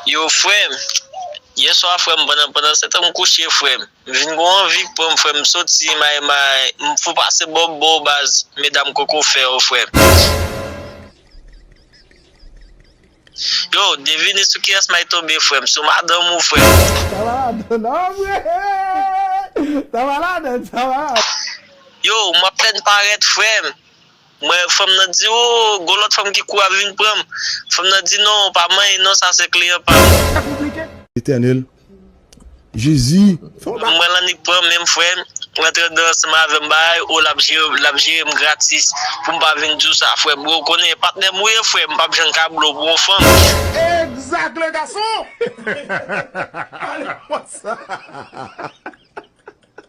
Yow frèm yèswa frèm pandan pandan setan m kouche frèm m vin gon anvi k pranm frèm m soti may may m fou pase bò bò baz medam koko fè yo frèm yow devine sou kiyès may tonbe frèm sou madanm ou frèm. Sa pa ladann an vre Sa pa ladann sa pa ladann. Yow m apèn parèt frèm. Mwen fanm nan di oh gon lòt fanm ki kouri ap vin pranm fanm nan di non pa manyen non sa se kliyan pam. Etènèl jezi fè yon bagay. Mwen lannik pranm menm frèm rantre dan ansanm avèm bay oh lap jerem lap jerem gratis poum pa vin diw sa frèm bro konnen patnèm ou ye frèm mpap jann ka blow pou yon fanm. Exact le garçon! Allez, what's up?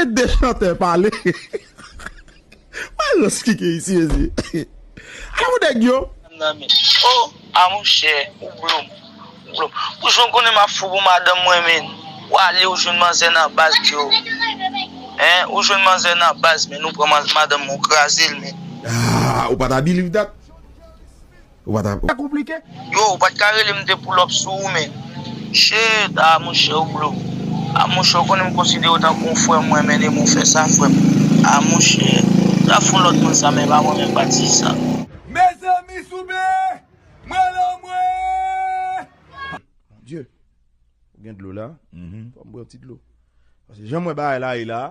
Ede chantè pale Mayo esplike isi mezi A ou nèg yo. Madame nan men oh a monchè ou blom ou blom ou jwenn konnen map fou pou madanm mwen menn ou ale ou jwenn manzè nan baz diyo hein ou jwenn manzè nan baz menn ou pran madanm mwen ou krazel menn. Ah ou pa ta believe that. ou pa ta. Sa konplike. Yo ou pat ka relem m te pull up sou ou men Shit ah monchè ou blo ah monchè ou konnen m konsiderew tankou yon frèm mwen mennenm ou fè sa frèm ah monchè ta fon lòt moun sa men pa mwen menm pa ti sa. Mezanmi souple mwen al anmwee. Mon Dieu ou gen dlo la fòm pran ti dlo paske janm wè bagay la ye la.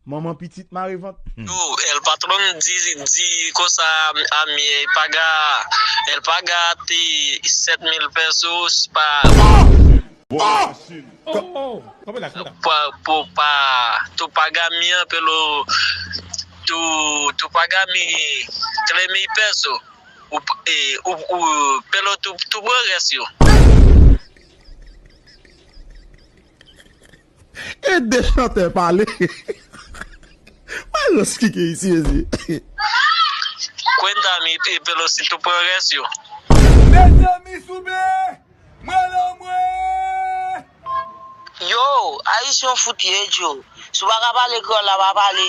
Manman pitit mare vant humm. Yo el patron di di konsa ami ey paga el paga te 7000 pesos pa pou pa tou paga mi an pelo tou paga mi 3000 peso ou pelo tou pran res yo. Ede chantè pale Mayoss ki gen isi mesye. Queen Dami e Pelosi tou pran rès yo. Mezanmi souple mwen lan mwen. Yow ayisyen w fout ye Joe. Si w pa ka pale kreyòl la pa pale.